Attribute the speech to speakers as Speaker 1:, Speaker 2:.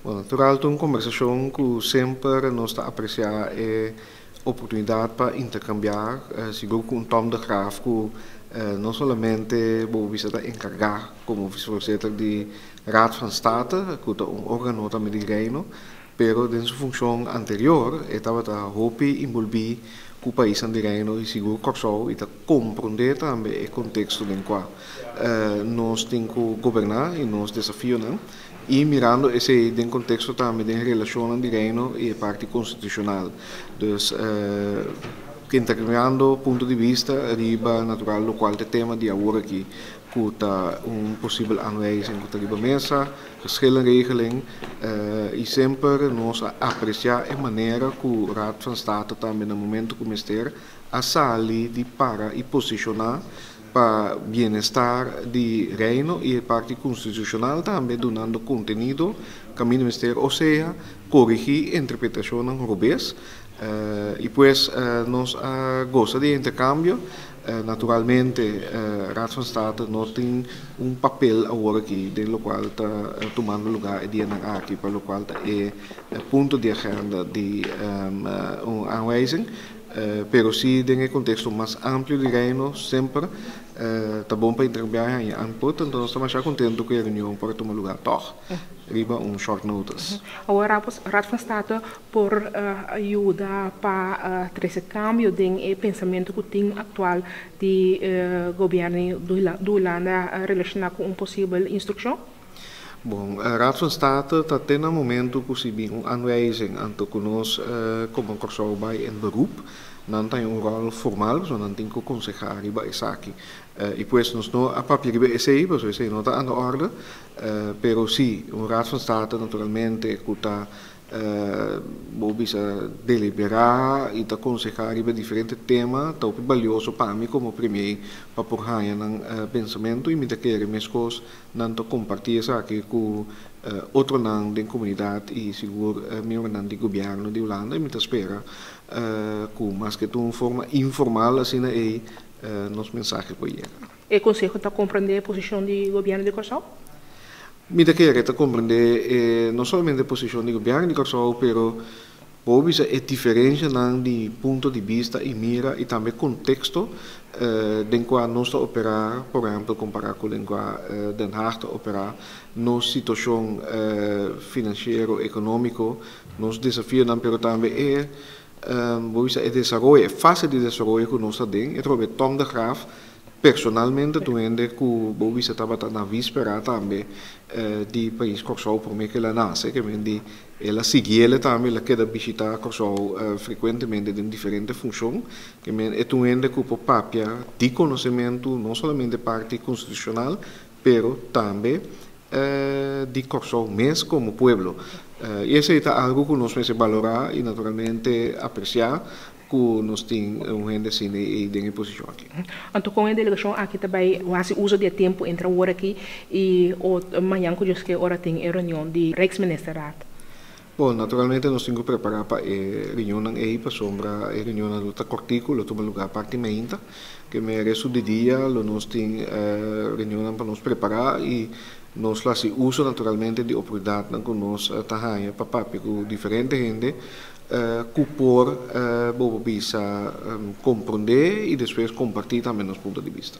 Speaker 1: Bueno, tur alto un kombersashon ku semper nos ta apresiá e oportunidat pa interkambiá sigur ku un Tom de Graaf ku no solamente bobo bisa ta enkargá komo Visevoorzitter di Raad van State ku ta un órgano tambe di Reino, Pero den su funshon anterior e tabata hopi inbolbí ku paisnan di Reino i sigur Kòrsou i ta komprondé tambe e konteksto den kua nos tin ku goberná i nos desafionan i mirando esei den konteksto tambe den relashonnan di Reino i e parti konstitushonal. Dus interkambiando punto di bista riba natural lokual ta e tema di aworakí ku ta un posibel aanwijzing ku ta riba mesa. Schil en regeling, i semper nos a apreciá e manera ku Raad van State tambe na momento ku mester a sali di para i posicioná pa bienestar di Reino i e parti constitucional tambe dunando contenido caminda mester o sea corigí e interpretacionnan robes. I pues nos a goza di e intercambio Naturalmente, Raad van State no tin un papel awor aki den locual ta tumando lugar e dianan aki, pa locual ta e punto di agenda di un aanwijzing, pero si den e contexto mas amplio di Reino, semper ta bon pa intercambiá e haña input, anto nos ta masha contento cu e reunion por a tuma lugar tog, riba un short notice. Awor, Raad
Speaker 2: van State por a yuda pa a trese kambio den e pensamentu ku tin aktual di gobièrnu di Hulanda relashoná ku un posibel instrukshon? Bon,
Speaker 1: Raad van State ta te na momentu ku si bin un anwijzing anto ku nos komo Kòrsou bai en beroep. Nan ta in un ròl formal, so nan tin ku konsehá riba esaki. I pues nos no a papia riba esei, pasobra esei no ta anda òrda. Pero si, un Raad van State naturalmente ku ta Bo bisa deliberá i ta konsehá riba diferente tema ta hopi balioso pa mi komo primié pa por haña nan pensamentu i mi ta kere meskos nan ta kompartí esaki ku otronan den komunidat i sigur mierbronan di gobièrnu di Hulanda i mi ta spera ku maske ta un forma informal asina ei nos mensahe por yega. E Konseho ta
Speaker 2: komprendé e posishon di Gobièrnu di Kòrsou? Mi ta
Speaker 1: kere ta komprendé e no solamente posishon di Gobièrnu di Kòrsou pero bo bo bisa e diferenshanan di punto di bista i mira i tambe konteksto den kua nos ta operá, por ehèmpel kompará ku den kua Den Haag ta operá, nos situashon finansiero, ekonómiko, nos desafionan pero tambe e bo bisa e desaroyo, e fase di desaroyo ku nos ta den. E trobe Tom de Graaf. Personalmente tur hende cu bo bisa tabata na vispera tambe di pais Corsou prome cu el a nace, cu men di el a sigui ele tambe, el a keda bishita Corsou frecuentemente den diferente funcion, cu men e tur hende cu por papia di conocemento no solamente parti constitucional pero tambe di Corsou mes como pueblo y esey ta algo cu nos mester balora y naturalmente aprecia. Cu nos tin un hende asina y ey den e posicion aki. Anto con e delegacion
Speaker 2: aki ta bay haci uzo di e tempo entre awor aki y o mañan cu Dios kier ora tin e reunion di Rijksministerraad? Bon,
Speaker 1: naturalmente nos tin cu prepara pa e reunionnan ey pasobra e reunionnan lo ta cortico, lo tuma lugar parti mainta. Keme resto di dia lo nos tin reunionnan pa nos prepara y nos lo haci uzo naturalmente di oportunidadnan cu nos ta haya pa papia cu diferente hende. cu por bobo bisa comprende y despues comparti tambe nos punto di bista.